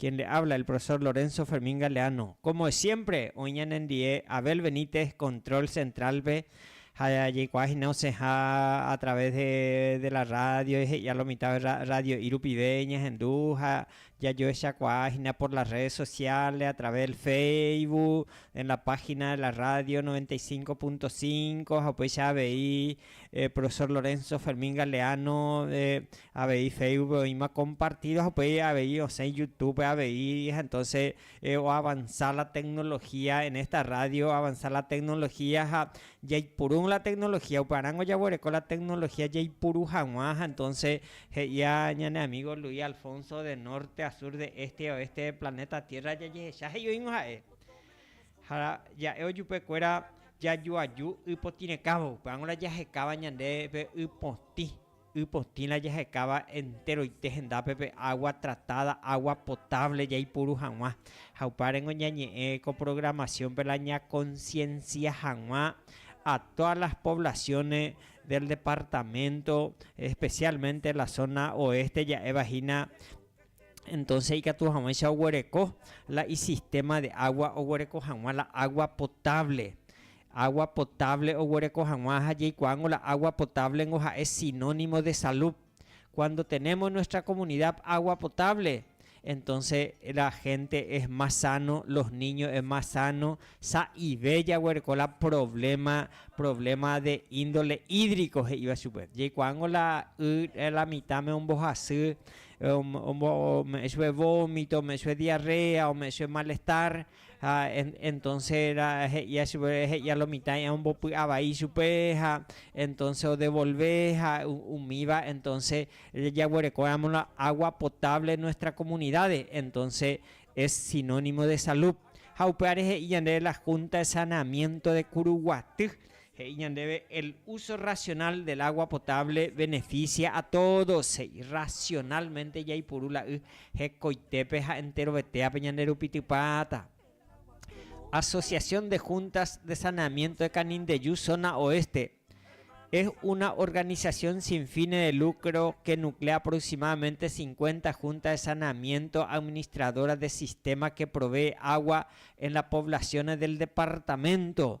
Quien le habla el profesor Lorenzo Fermín Galeano como de siempre oĩ ñanendie Abel Benítez control central-pe ha jaikuaa hína osẽha a través de la radio he'ia lo mitãve radio'i rupive ñahendu ha jajoechakuaa hína por las redes sociales a través del Facebook en la página de la radio 95.5 ha upéicha avei profesor Lorenzo Fermín Galeano Avei Facebook-pe oĩma compartido ha upéi avei osẽ YouTube-pe avei ha entonces oavanza la tecnología en esta radio avanza la tecnología ha jaipuru la tecnología upe arãngo jaguereko la tecnología jaipuru haguã ha entonces he'ia ñane amigo Luis Alfonso de norte a sur de este y a oeste de planeta tierra jajehecha he'i oĩgõ ha'e ha ja'e ojupekuéra jajoaju y potĩrekãvo upeág̃ura jahekáva ñande pe y potĩ Y potĩ la jahekáva enteroite hendápe pe agua tratada, agua potable jaipuru hag̃ua. Ha upárengo ñañe'ẽ ko programación-pe la ñaconciencia hag̃ua a todas las poblaciones del departamento, especialmente la zona oeste ja'éva hína, entonces ikatu hag̃uáicha oguereko la isistema de agua, oguereko hag̃ua la agua potable. Agua potable oguereko hag̃ua ha jaikuaángo la agua potable-ngo ha'e sinónimo de salud. Cuando tenemos en nuestra comunidad agua potable, entonces la gente es más sano, los niños es más sano, sa'ive jaguereko la problema, problema de índole hídrico he'íva chupe. Jaikuaángo la y la mitã-me ombohasy, ome'ẽ chupe vómito, ome'ẽ chupe diarrea, ome'ẽ chupe malestar, Ha entonce era he'ia chupe, he'ia lo mitã'i ha ombopy'a vai chupe, ha entonce odevolve, ha umíva entonce jaguerekóramo la agua potable nuestra comunidades, entonce es sinónimo de salud. Ha upévare he'i yandéve la Junta de Saneamiento de Curuguaty, He'i ñandéve, El uso racional del agua potable beneficia a todos, he'i, racionalmente jaipuru la y hekoitépe ha enterovetéape ñanderupitypáta. Asociación de Juntas de Saneamiento de Canindeyú Zona Oeste es una organización sin fines de lucro que nuclea aproximadamente cincuenta juntas de saneamiento administradoras de sistema que provee agua en las poblaciones del departamento.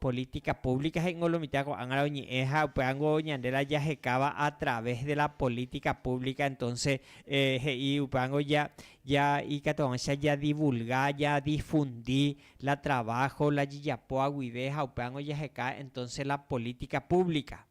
Política pública he'ingo lo mitã ko'ág̃ara oñe'ẽ ha upévango ñande la jahekáva a través de la política pública entonce he'i upévango ja ja ikatu hag̃uáicha ja divulga ja difundi la trabajo la jejapoa guive ha upévango jaheka entonce la política pública.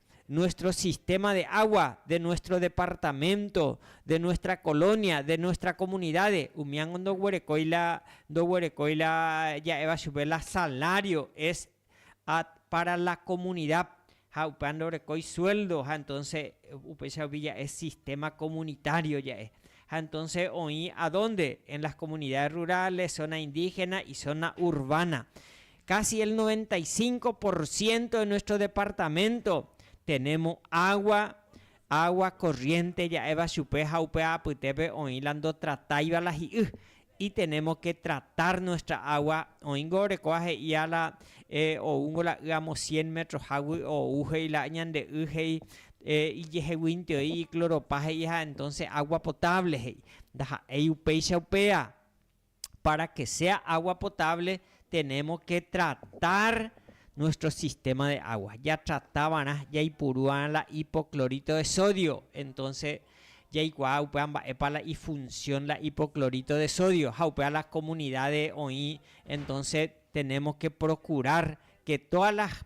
nuestro sistema de agua, de nuestro departamento, de nuestra colonia, de nuestra comunidades, umíango ndoguerekói la, ndoguerekói la ja'éva chupe la salario es a para la comunidad ha upéva ndorekói sueldo ha entonce upéicha rupi ja'e sistema comunitario ja'e. Ha entonce oĩ a dónde? En las comunidades rurales, zona indígena y zona urbana. Casi el noventa y cinco por ciento de nuestro departamento tenemo agua, agua corriente ja'éva chupe ha upe apytépe oĩ la ndotratáiva la hi'y, y tenemos que tratar nuestra agua, oĩngo orekóva he'ía la oúngo la y amo cien metrohágui ou he'i la ñande y he'i ijeheguinteoi icloropa he'iha entonces agua potable he'i, ndaha'éi upéicha upéva. para que sea agua potable tenemos que tratar nuestro sistema de agua. Ya trata va'erã jaipuru va'erã la hipoclorito de sodio. Entonces jaikuaa upéva mba'épa la ifunción la hipoclorito de sodio. Ha upéva las comunidades oĩ, entonces tenemos que procurar que todas las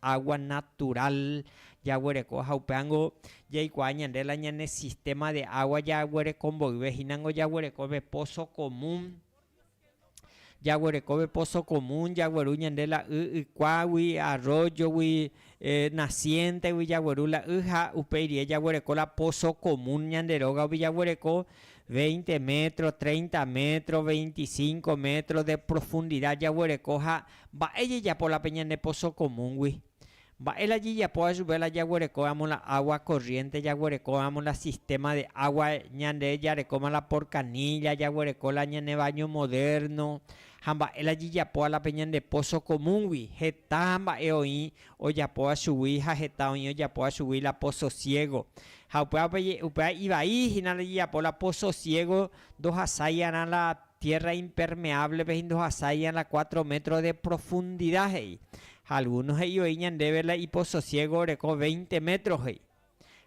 água natural jaguereko ha upévango jaikuaa ñande la ñane sistema de água jaguereko mboyve hínango jaguereko pe pozo común, jaguereko pe pozo común jagueru ñande la y ykuágui, arroyogui, nacientegui jagueru la y ha upéi rie jaguereko la pozo común ñande rógape jaguereko veinte metro, treinta metro, veinticinco metro de profundidad jaguereko ha Mba'e jejapo la pe ñane pozo común-gui? Mba'e la jejapo ajuve la jaguerekóramo la agua corriente, jaguerekóramo la sistema de agua, ñande jarekóma la por canilla, jaguereko la ñane baño moderno, ha mba'e la jejapóva la pe ñande pozo común-gui? Heta mba'e oĩ ojapóva chugui ha heta oĩ ojapóva chugui la pozo ciego. Ha upéva pe, upéva ivai hína la jejapo la pozo ciego ndohasaiarã la Tierra impermeable-pe hína ndohasa iñala cuatro metros de profundidad, he'i. Ha alguno he'i voi ñandéve la ipososiégo oreko veinte metros, he'i.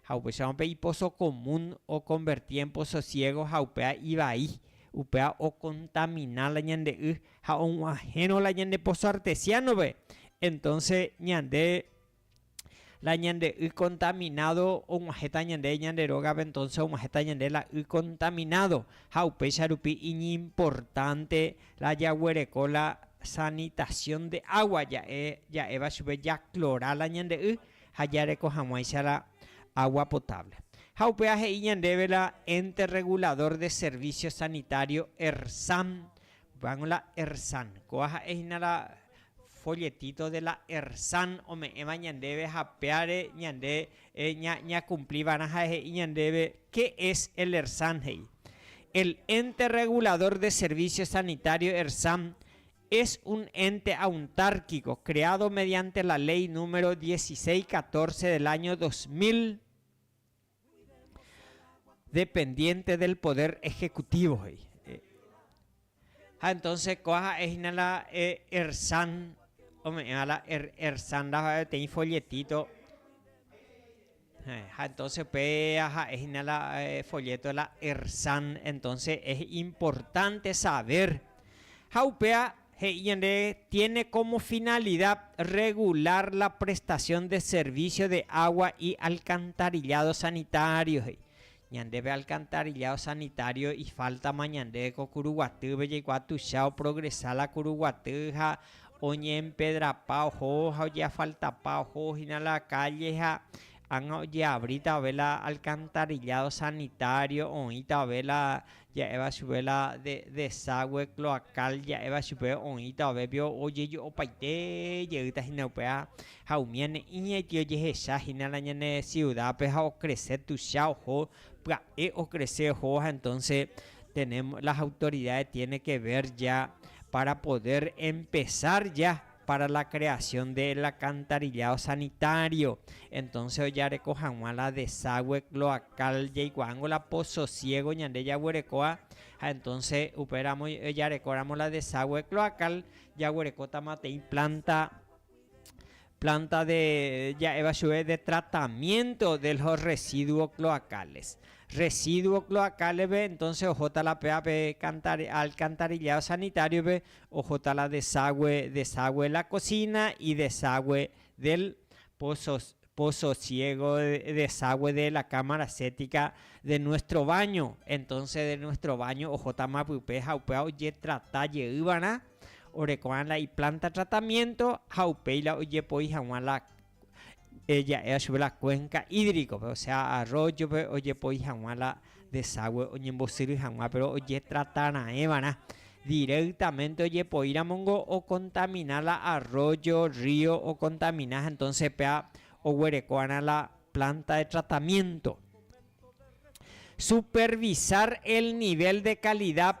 Ha upéicharõ pe iposo común okonverti en pososiégo ha upéva ivai, upéva okontamina la ñande y ha og̃uahẽrõ la ñande poso artesiano-pe, entonce ñande, la ñande y contaminádo og̃uahẽta ñande ñande rógape, entonce og̃uahẽta ñande la y contaminádo, ha upéicha rupi iñimportánte la jaguereko la sanitación de agua, ja'e ja'éva chupe jaklora la ñande y ha jareko hag̃uáicha la agua potable. Ha upéva he'i ñandéve la Ente Regulador de Servicios Sanitario, ERSAM, Van la Ersan. Kóva ha'e hína la folletito de la Ersan ome'ẽva ñandéve ha péare ñande ñakumpli va'erã ha'e he'i ñandéve qué es el Ersan he'i. El Ente Regulador de Servicios Sanitarios, Ersan, es un ente auntárquico creado mediante la Ley número 1614 del año 2000, dependiente del poder ejecutivo he'i ha entonce kua ha'e hína la Ersan ome'ẽva la Ersan la peteĩ folletito ha entonce péva ha'e hína la folleto de la Ersan entonce es importante saber ha upéva He'i ñande, tiene como finalidad regular la prestación de servicio de agua y alcantarillado sanitario, he'i. Ñandépe alcantarillado sanitario ifaltama ñande ko kuru guatýpe jaikuaa tuicha oprogresa la kuru guaty ha oñeempedrapa oho ha ojeafaltapa oho hína la kálle ha ág̃a ojeavritave la alcantarillado sanitario oĩtave la ja'éva chupe la deságue cloacal ja'éva chupe oĩta ovévio ojeju opaite jeýta hína upéva ha umíane iñaitĩ ojehecha hína la ñane siudápe ha okrese tuicha oho pya'e okrese ohóva entónse tenemos las autoridades tiene ke ver ya para poder empesar ya para la creación de el alcantarillado sanitario, entonces ojareko hag̃ua la desagüe cloacal jaikuaángo la pozo ciego ñande jaguerekóva ha entonces upéramo ojarekóramo la desagüe cloacal jaguerekótamateĩ planta planta de ja'éva chuve de tratamiento de los residuos cloacales, residuos cloacales-pe entonces ohóta la péva pe alcantarillado sanitario-pe Ohóta la deságue, deságue la kosína y deságue del pozo, pozo ciego, deságue de la cámara séptica de nuestro baño. Entonces de nuestro baño ohótama pype ha upéva ojetrata jeýva'erã orekuaáva la iplanta tratamiento ha upéi la ojepoi hag̃ua la ja'éva chupe la cuenca hídrico-pe, osea arroyo-pe ojepoi hag̃ua la desagüe oñembosyry hag̃ua, péro ojetrata raẽ va'erã. Directamente ojepoíramo ningo okontamina la arroyo, rrío okontamina, entónse upéva oguereko va'erã la planta de tratamiénto. Supervisar el nivel de calidad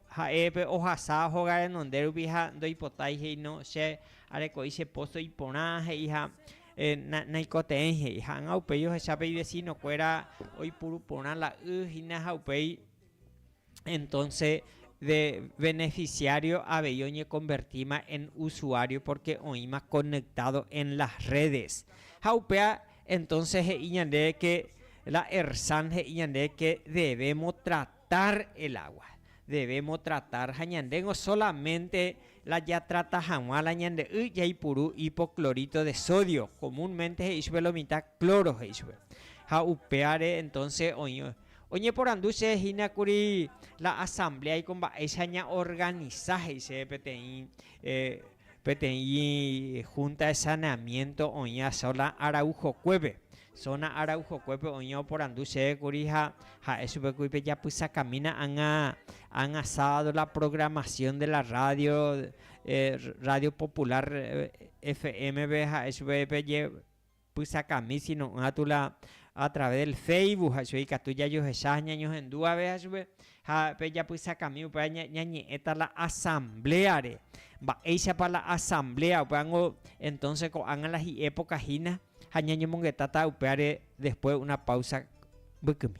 Ha'e pe ohasa hoga renonde rupi ha ndoipotái he'ino che areko'i che pozo iporã he'i ha naikotevẽi he'i. Ha'ãnga upéi ohecha pe ivesino kuéra oipuru porã la y hína ha upéi entonce de beneficiario avei oñekonvertíma en usuario porque oĩma conectado en las redes. Ha upéa entonce he'i ñandéve que la ERSAN he'i ñandéve que debemos tratar Tar el agua. Debemos tratar ha ñandéngo solamente la jatrata hag̃ua la ñande y jaipuru hipoclorito de sodio, comúnmente he'i chupe lo mitã cloro he'i chupe. Ha upévare entonces oĩ oñeporandu che hína kuri la asamblea-iko mba'éicha ña organiza he'i chéve peteĩ eh, Peteĩ húnta de saneamiénto oĩva Sona Araujokuépe. Sona Araujokuépe oĩ oporandu chéve kuri ha ha'e chupe kuri pejapysakamína ág̃a, ág̃a sábado la programación de la radio, Radio Popular FM-pe, ha'e chupe Pysakami sino'ỹva tu la a través del Facebook ha chugui ikatu jajohecha ha ñañohendu abeja chupe. Ha pe japysakami upéva ñañe'ẽta la asambléare. Mba'éichapa la asamblea upévango entonce ko'ág̃a la hi'e pokahína ha ñañomongetáta upévare después una pausa mbykymi.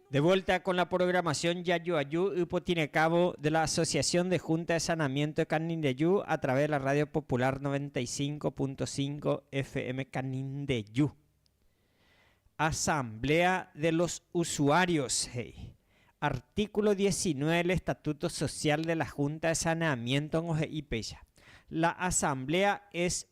De vuelta con la programación Jajuaju ypotirekávo de la Asociación de Junta de Sanamiento de Canindeju a través de la Radio Popular 95.5 FM Canindeju. Asamblea de los Usuarios he'i. Artículo 19 del Estatuto Social de la Junta de Saneamiento ngohe'i péicha, La Asamblea es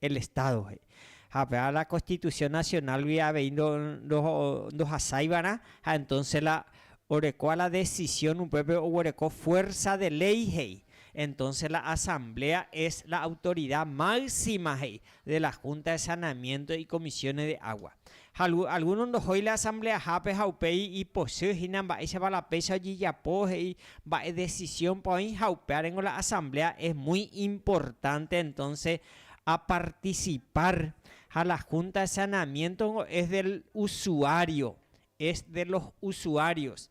el Estado he'i. Ha upéva la Constitución Nacional-gui avei ndohasáivarã, ha entonces la orekóva la decisión upépe oguereko fuerza de ley he'i. Entonces la Asamblea es la autoridad máxima he'i de la Junta de Saneamiento y Comisiones de Agua. Ha algúno ndohói la asambleahápe ha upéi ipochy hína mba'éichapa la péicha ojejapo, he'i mba'e desisiónpa oĩ ha upéarengo la asambléa es muy importante entónse apartisipar. Ha la Húnta de Saneamiéntongo es del usuário, es de los usuarios.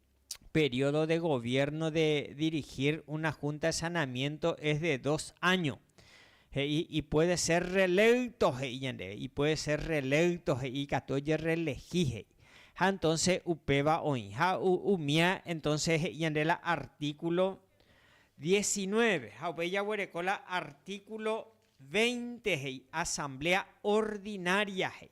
período de goviérno de dirigir una Junta de Saneamiento es de dos áño, he'i y puede ser reelecto, he'i ñandéve, y puede ser reelecto, he'i ikatu ojerreelegi, he'i. Ha entonce upéva oĩ. Ha umía entonce he'i ñande la artículo diecinueve, ha upéi jaguereko la artículo veinte, he'i, Asamblea Ordinaria, he'i.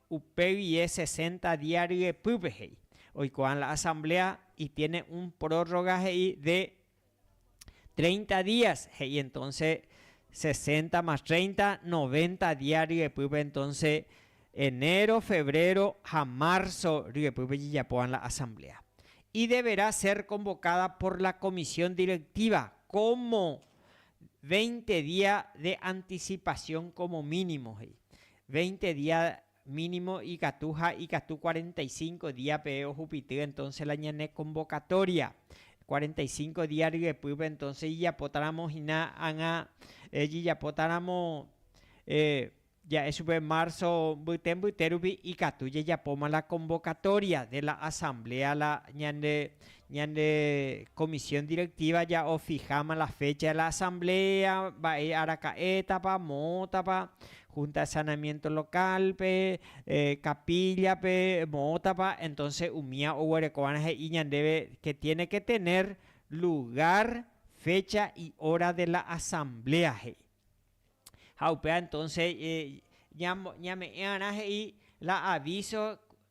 Upe guie sesenta día ryepýpe he'i, oikuaa la asamblea y tiene un prórroga he'i de treinta días, he'i entonce sesenta más treinta, noventa día ryepýpe entonce enero, febrero ha marzo ryepýpe jejapóva la asamblea. Y deberá ser convocada por la comisión directiva como veinte día de anticipación como mínimo, he'i. Veinte día mínimo ikatu ha ikatu cuarenta y cinco día peve ohupity entonce la ñane convocatoria. Cuarenta y cinco día ryepýpe entonce ijapótaramo hina ág̃a jejapótaramo ja'e chupe marzo mbyte mbyte rupi ikatu jajapóma la convocatoria de la asamblea la ñande ñande comisión directiva ja'ofiháma la fecha de la asamblea mba'e araka'étapa, moõtapa, Junta Sanamiento Local-pe, capilla-pe moõtapa, entonce umía oguerekova'erã he'i ñandéve que tiene que tener lugar, fecha y hora de la asamblea he'i. Ha upéva entonce ñame'ẽva'erã he'i la aviso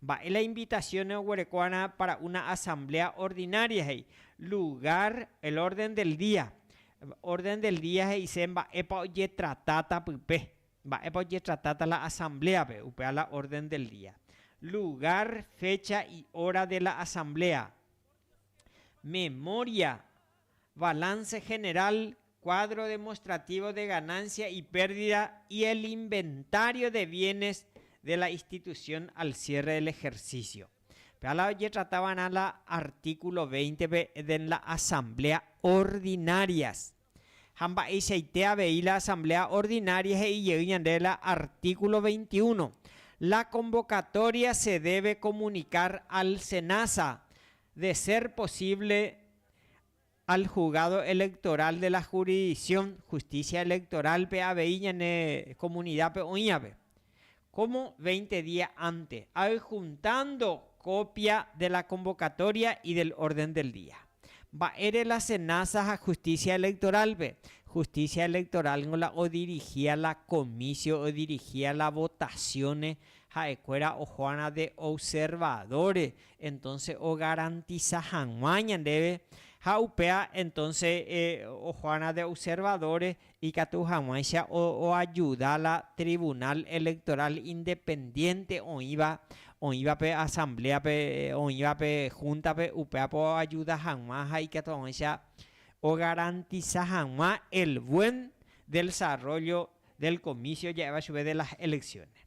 Mba'e la invitación oguerekóarã para una asamblea ordinaria he'i, lugar, el orden del día. Orden del día he'ise mba'épa ojetratáta pype, mba'épa ojetratáta la asambléape, upéva la orden del día. Lugar, fecha y hora de la asamblea. Memoria. Balance general, cuadro demostrativo de ganancia y pérdida y el inventario de bienes de la institución al cierre del ejercicio. Péva la ojetrata va'erã la artículo 20-pe de en la asamblea ordinarias. Ha mba'eichaite avei la asamblea ordinaria he'i jey ñande la artículo 21, la convocatoria se debe comunicar al Senasa de ser posible al Juzgado Electoral de la Jurisdicción Justicia Electoral-pe avei ñane comunidad-pe oĩvape, como veinte día antes, ahyjuntando copia de la convocatoria y del orden del día. Mba'ére la Senasa ha Justicia Electoral-pe? Justicia Electoral-ngo la odirigia la comicio, odirigia la votaciones, ha'ekuéra ojoarã de observadores entonce ogarantisa hag̃ua ñandéve ha upéva entonce ojoarã de observadores ikatu hag̃uáicha oajuda la Tribunal Electoral independiente oĩva, oĩva pe asambléape, oĩva pe húntape, upévape oajuda hag̃ua ha ikatu hag̃uáicha ogarantisa hag̃ua el buen delsarrollo del comicio ja'éva chupe de las elecciones.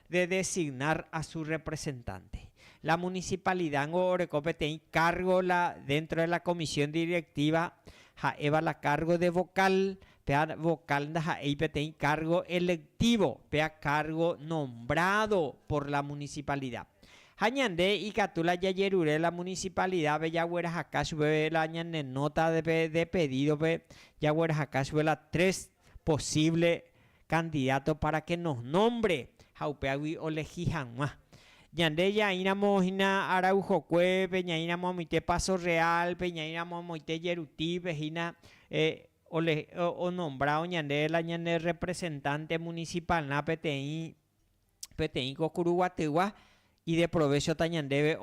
de designar a su representante. La municipalidad-ngo oreko peteĩ cargo la dentro de la comisión directiva ha'éva la cargo de vocal, péa vocal ndaha'éi peteĩ cargo electivo, péa cargo nombrado por la municipalidad. Ha ñande ikatu la jajerure la municipalidad-pe jaguerahaka chupe la ñane nota-pe de pedido-pe jaguerahaka chupe la tres posívle kandidáto pára ke nos nómbre ha upévagui olehi hag̃ua. Ñande jaĩramo hína Araujokuépe, ñaĩramo amoite Paso Realpe, ñaĩramo amoite Jerutípe hína onombrávo ñande la ñane rrepresentánte munisipalrã peteĩ peteĩ ko kuru guatygua ideprovéchota ñandéve,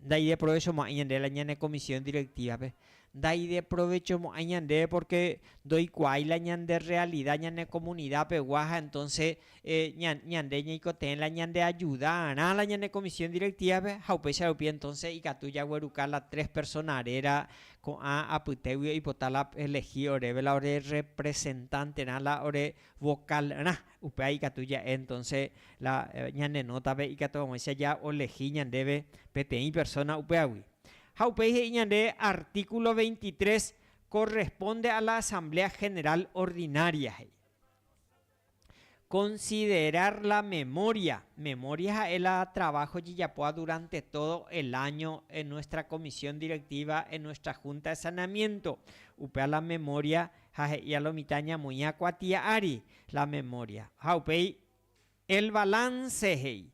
ndaideprovechomo'ãi ñande la ñane komisión direktívape. Ndaideprovechomo'ãi ñandéve pórke ndoikuaái la ñande rrealida ñane komunidapegua ha entónse ñande ñaikotevẽ la ñandeajudarã la ñane komisión direktívape ha upéicha rupi entónse ikatu jagueruka la tres persóna réra ko'ã apytégui oipota la oelegi oréve la orerrepresentanterã la orevokálrã. Upéva ikatu ja'e entonce la ñane nótape ikatu aguãicha jaolehi ñandéve peteĩ persona upévagui. Ha upéi he'i ñande artíkulo veintitrés, Corresponde a la Asamblea General Ordinaria, he'i, considerar la memoria, memoria ha'e la trabajo jejapóva durante todo el año en nuestra Comisión Directiva, en nuestra Junta de Saneamiento, upéva la memoria ha he'i alo mitã ñamoĩha kuatia ári la memoria. Ha upéi El balance he'i,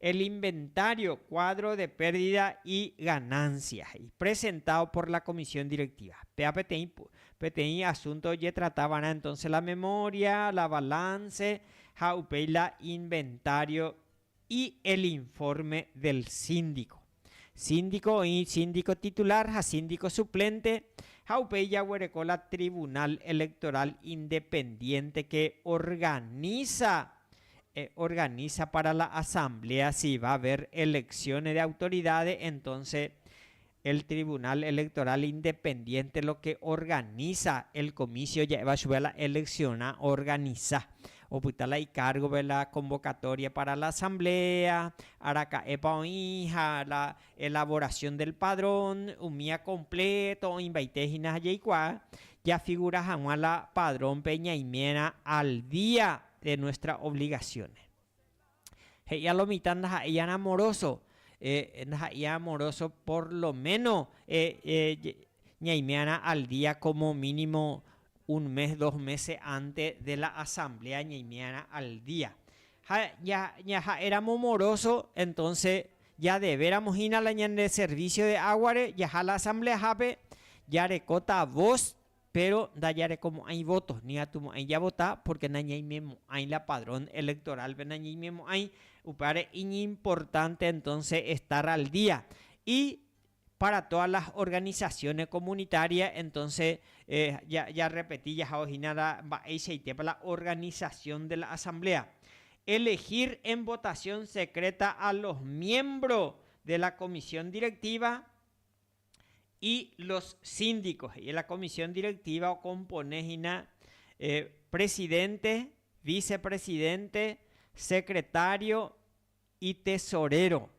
El inventario, cuadro de pérdida y ganancia he'i, presentado por la comisión directiva. Péa peteĩ, peteĩ asunto ojetrata va'erã entonce la memoria, la balance ha upéi la inventario Y el informe del síndico. Síndico oĩ síndico titular ha síndico suplente ha upéi jaguereko la Tribunal Electoral independiente que organiza organiza para la asamblea si va haber elecciones de autoridades entonces El Tribunal Electoral Independiente lo que organiza el comicio ja'éva chupe la elecciona organiza. Opyta la icárgove la convocatoria para la asamblea, araka'épa oĩ ha la elaboración del padrón, umía completo oĩmbaite hína ha jaikuaa jafigura hag̃ua la padrón-pe ñaimérã al día de nuestra obligaciones. He'ia lo mitã ndaha'éi arã amoroso, ndaha'éi arã amoroso por lo méno ñaime'arã al día kómo mínimo un mes, dos mése ánte de la asambléa ñaime'arã al día. Ha ñaha'éramo moroso, entónse jadevéramo hína la ñande servísio de águare, jaha la asambleahápe, jarekóta vos Péro ndajarekomo'ãi vóto, ni atumo'ãi javota pórke nañaimemo'ãi la padrón elektorálpe nañaimemo'ãi, upévare iñimportánte entónse estar al día. I pára tódas las organisasiónes komunitarias, entónse jarrepeti jahávo hína la mba'eichaitépa la organisasión de la asambléa. Elegir en votasión sekreta a los miembros de la komisión direktíva. Y los síndicos, he'i la comisión directiva okompone hína presidente, vicepresidente, secretario y tesorero,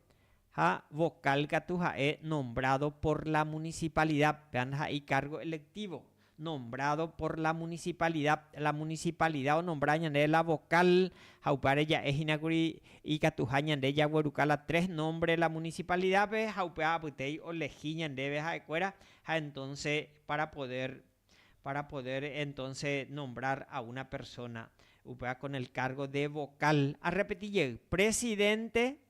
ha vocal katu ha'e nombrado por la municipalidad, péva ndaha'éi cargo electivo, nombrado por la municipalidad, la municipalidad onombra ñande la vocal ha upévare ja'e hína kuri ikatuha ñande jagueruka la tres nombre la municipalidad-pe ha upéva apytéi olehi ñandéve ha'ekuéra ha entonce para poder, para poder entonce nombrar a una persona upéva con el cargo de vocal, arrepeti jey, presidente,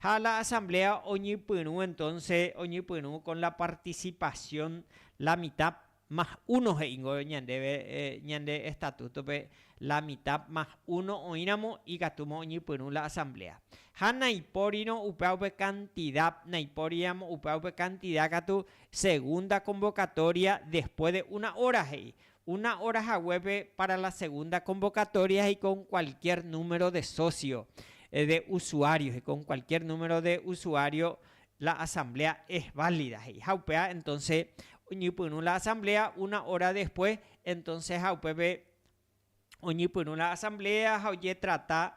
Ha la asamblea oñypyrũ entonce oñypyrũ con la participación la mitad más uno he'ingo ñandéve ñande estatuto-pe la mitad más uno oĩramo ikatúma oñypyrũ la asamblea. Ha naipórirõ upéva upe cantidad, naipóriramo upéva upe cantidad katu segunda convocatoria después de una hora he'i. Una óra haguépe pára la segunda konvokatória heiko kualkiér número de sósio, de usuário, heiko kualkiér número de usuário, la asambléa es válida, he'i. Ha upéva entónse oñepyrũ la asambléa una óra después, entónseha upépe oñepyrũ la asambléa ha ojetrata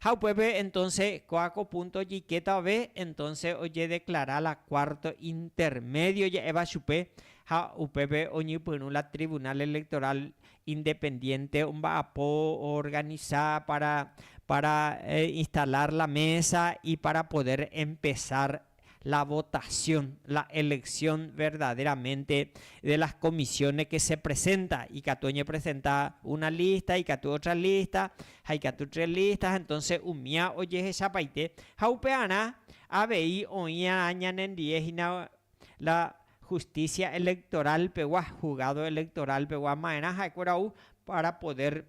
Ha upépe entonce kóa ko punto ojikétavave entonce ojedeclara la cuarto intermedio ja'éva chupe ha upépe oñypyrũ la Tribunal Electoral independiente omba'apo oorganiza para para instalar la mesa y para poder empezar la votación, la elección verdaderamente de las comisiones que se presenta, ikatu oñepresenta una lista, ikatu otra lista, ha ikatu tres listas, ha entonces umía ojehechapaite, ha upearã avei oĩarã ñanendie hína la justicia electoral pegua, juzgado electoral pegua, maerã ha'ekuéra ou para poder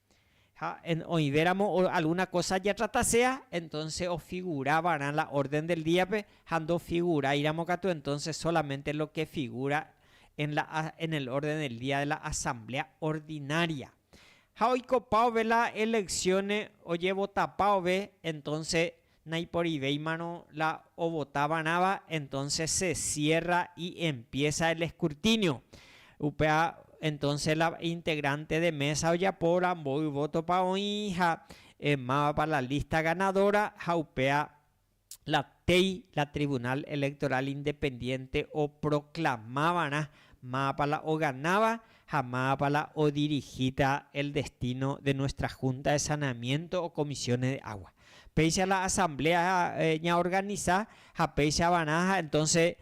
Ha en oĩvéramo alguna kósa jatratasea, entónse ofigura va'erã la órden del díape, ha ndofiuguráiramo katu entónse sólamente lo ke figura en la a, en el orden del día de la asamblea ordinaria. Ha oikopaove la eleccione ojevotapaove, entónse Naiporivéimarõ la ovota va'erãva, entonces se cierra y empieza el escrutinio. Upéva entonces la integrante de mesa ojapóvora mboy voto-pa oĩ ha mávapa la lista ganadora ha upéva la téi la Tribunal Electoral Independiente oproclama va'erã mávapa la oganáva ha mávapa la odirihíta el destino de nuestra Junta de Saneamiento o Comisiones de Agua. Péicha la asamblea ñaorganisa ha péichavarã ha entonces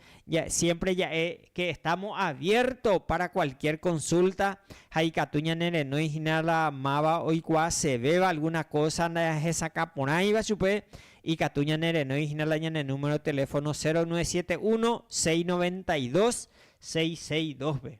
siempre ja'e que estamos abierto para cualquier consulta ha ikatu ñanerenói hína la máva oikuaasevéva alguna cosa ndahesakã porãiva chupe, ikatu ñanerenói hína la ñane número de teléfono 0971 692 662-pe.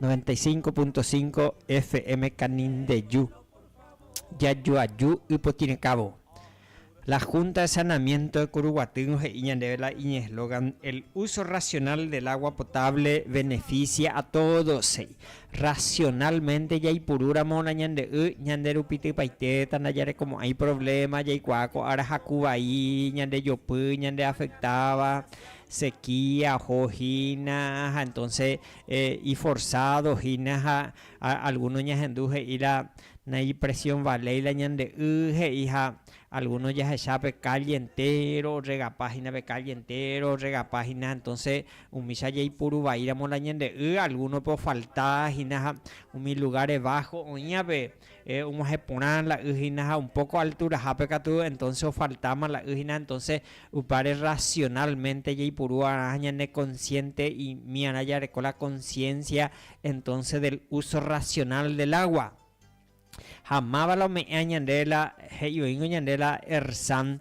Noventa y cinco punto cinco FM Canindeju, jajoaju ypotĩrẽkávo. La Junta de Saneamiento de Curuguatýrõ he'i ñandéve la iñeslogan El uso racional del agua potable beneficia a todos, he'i. Racionalmente jaipurúramo la ñande y ñande rupi typaitéta ndajarekomo'ãi problema, jaikuaa ko ára haku vai, ñande jopy, ñande afectáva, sequía oho hína ha entonce iforzado hína ha alguno ñahendu he'i la naipresión valéi la ñande y he'i ha alguno jahecha pe calle entéro orregapa hína pe calle entéro orregapa hína ha entonce umícha jaipuru vaíramo la ñande y algunope ofalta hína ha umi lugares bajo oĩva pe og̃uahẽ porã la y hína ha un poco altura-hápe katu entonce ofaltáma la y hína, entonce upáre racionalmente jaipuru'arã ñane consciente imiarã jareko la conciencia entonce del uso racional del agua. Ha máva la ome'ẽ ñande la he'i oĩngo ñande la Ersan,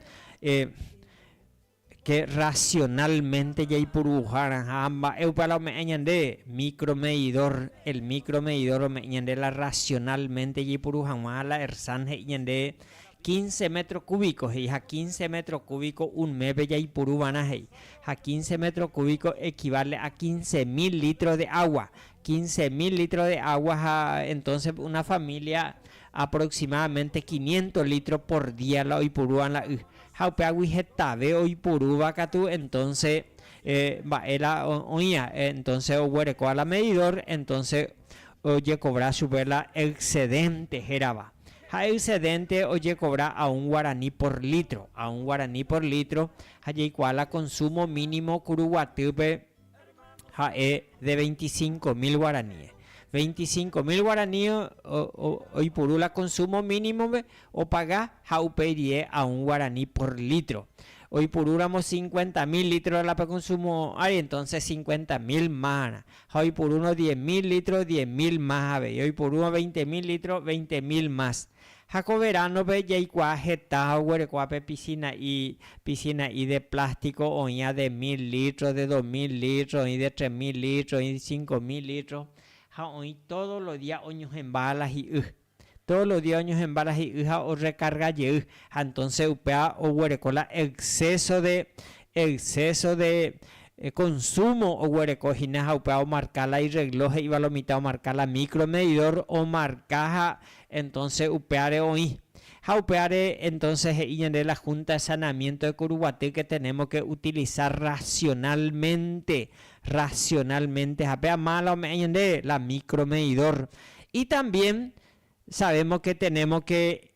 Che racionalmente jaipuruhárãha ha mba'e upe ára ome'ẽ ñande micro medidor, el micro medidor ome'ẽ ñande la racionalmente jaipuru hag̃ua ha la Ersan he'i ñande quince metro cúbico he'i ha quince metro cúbico un mépe jaipuru va'erã he'i ha quince metro cúbico equivale a quince mil litros de agua, quince mil litros de agua ha entonce una familia aproximadamente quinientos litros por día la oipurúva la y. Ha upéagui hetave oiporúva katu entonce mba'éra oĩva, entonce oguerekóva la medidor, entonce ojekovra chupe la excedente hérava. Ha excedente ojekovra a un guarani por litro, a un guarani por litro, ha jaikuaa la consumo mínimo Kuruguatýpe, ha'e de veinte y cinco mil guaraníes. Veinte y cinco mil guaraníes oipuru la consumo mínimope opaga ha upe'irie a un guaraní por litro. Oipurúramo cincuenta mil litros la pekonsumo ári, entonces cincuenta mil másrã. Ha oipurúrõ diez mil litros, diez mil más avei. Oipurúrõ veinte mil litros, veinte mil más. Ha ko veránope jaikuaa heta ha oguerekóva pe pisina'i, pisina'i de plástiko oĩva de mil lítro, de dos mil lítro, oĩ de tres mil lítro, oĩ de cinco mil lítro, ha oĩ tódo lo día oñohẽmba la hi'y. Tódo lo día oñohẽmba la hi'y ha orrekarga jey, ha entónse upéva oguereko la exceso de, exceso de konsúmo oguereko hína ha upéva omarka la irregló he'íva lo mitã, omarka la micro medidor, omarka ha Entonce upéare oĩ. Ha upéare entonces he'i ñande la Junta de Saneamiento de Curuguaty que tenemos que utilizar racionalmente, racionalmente ha péa mala ome'ẽ ñande la micro medidor. Y también sabemos que tenemos que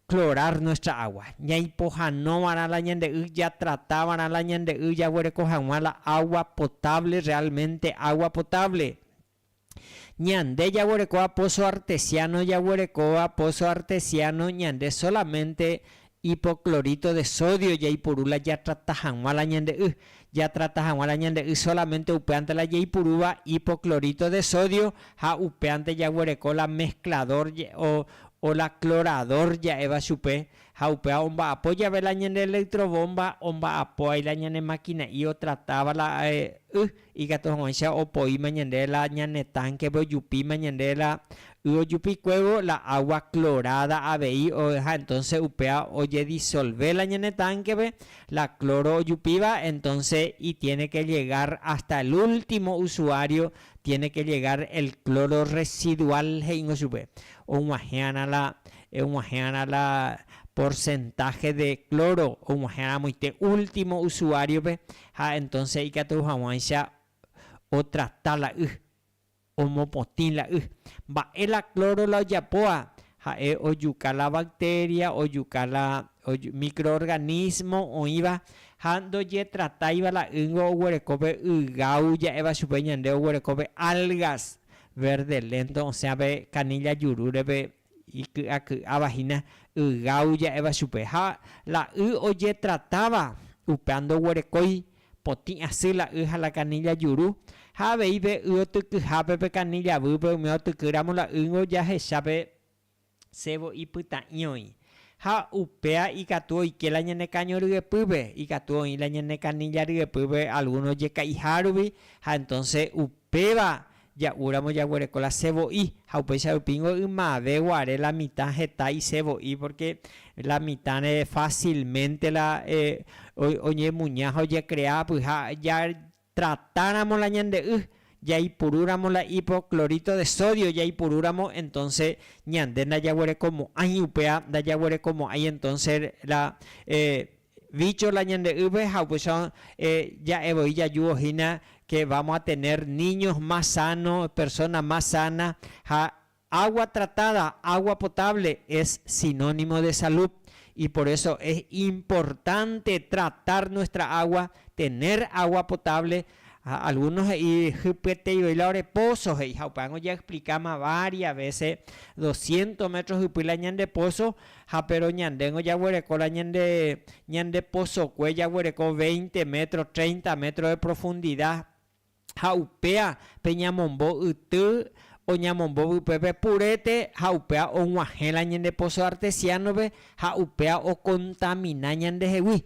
clorar nuestra agua. Ñaipohanova'erã la ñande y, jatratava'erã la ñande y, jaguereko hag̃ua la agua potable, realmente agua potable. Ñande jaguerekóva pozo artesiano jaguerekóva pozo artesiano ñande solamente hipoclorito de sodio jaipuru la jatrata hag̃ua la ñande y, jatrata hag̃ua la ñande y solamente upévante la jaipurúva hipoclorito de sodio ha upévante jaguereko la mezclador o la clorador ja'éva chupe ha upéva omba'apo jave la ñande electrobomba omba'apo aíla ñane maquina'i otratáva la y Ikatu hag̃uáicha opoíma ñande la ñane tánkepe ojupíma ñande la y ojupikuévo la água kloráda avei ha entónse upéva ojedisolve la ñane tánkepe la klóro ojupíva, entónse itiéne ke llegár ásta el último usuário tiéne ke llegár el klóro rresiduál, he'íngo chupe, og̃uahẽ'arã la og̃uahẽ'arã la porsentahe de klóro og̃uahẽ'arãmoite último usuáriope, Ha entonce ikatu haguãicha otrata la y, omopotĩ la y. Mba'e la cloro la ojapóva? Ha'e ojuka la bacteria, ojuka la microorganismo oĩva ha ndojetratáiva la ýngo oguereko pe ygau ja'éva chupe ñande oguereko pe algas verde lento osẽa pe canilla jurúre pe Iky'aky'áva hína ygau ja'éva chupe, ha la y ojetratáva upéa ndoguerekói potĩ asy la y ha la kanilla juru, ha avei pe y otykyhápe pe kanilla výpe umi otykýramo la ýngo jahecha pe cebo ipytã'i oĩ, ha upéa ikatu oike la ñane káño ryepýpe, ikatu oĩ la ñane kanilla ryepýpe alguno jeka'iha rupi, ha entonce upéva Ja'u ramo jaguereko la se vo'i, ha upéicha rupíngo ymave guare la mitã heta ise vo'i, pórke la mitãre fásilmente la oñemuña ha ojekrea apyha. Jatratáramo la ñande y, jaipurúramo la hipoclorito de sodio jaipurúramo, entónse ñande ndajaguerekomo'ãi, upéva ndajaguerekomo'ãi entónse la Vícho la ñande ýpe ha upéicha ja'e voi jajuvo hína ke vámo a tener níños más sáno, persóna más sána. Ha água tratáda, água potáble es sinónimo de salú. Y por eso es importante tratar nuestra água, tener água potáble Ha alguno he'i hypyetei voi la ore póso he'i, ha upévango jaexplikáma vária vése, doscientos métro hypy la ñande póso, ha péro ñandéngo jaguereko la ñande, ñande posokue jaguereko veinte métro, treinta métro de profundida, ha upéa pe ñamombo yty oñamombo vypépe purete, ha upéa og̃uahẽ la ñande póso artesiánope, ha upéa okontamina ñandehegui,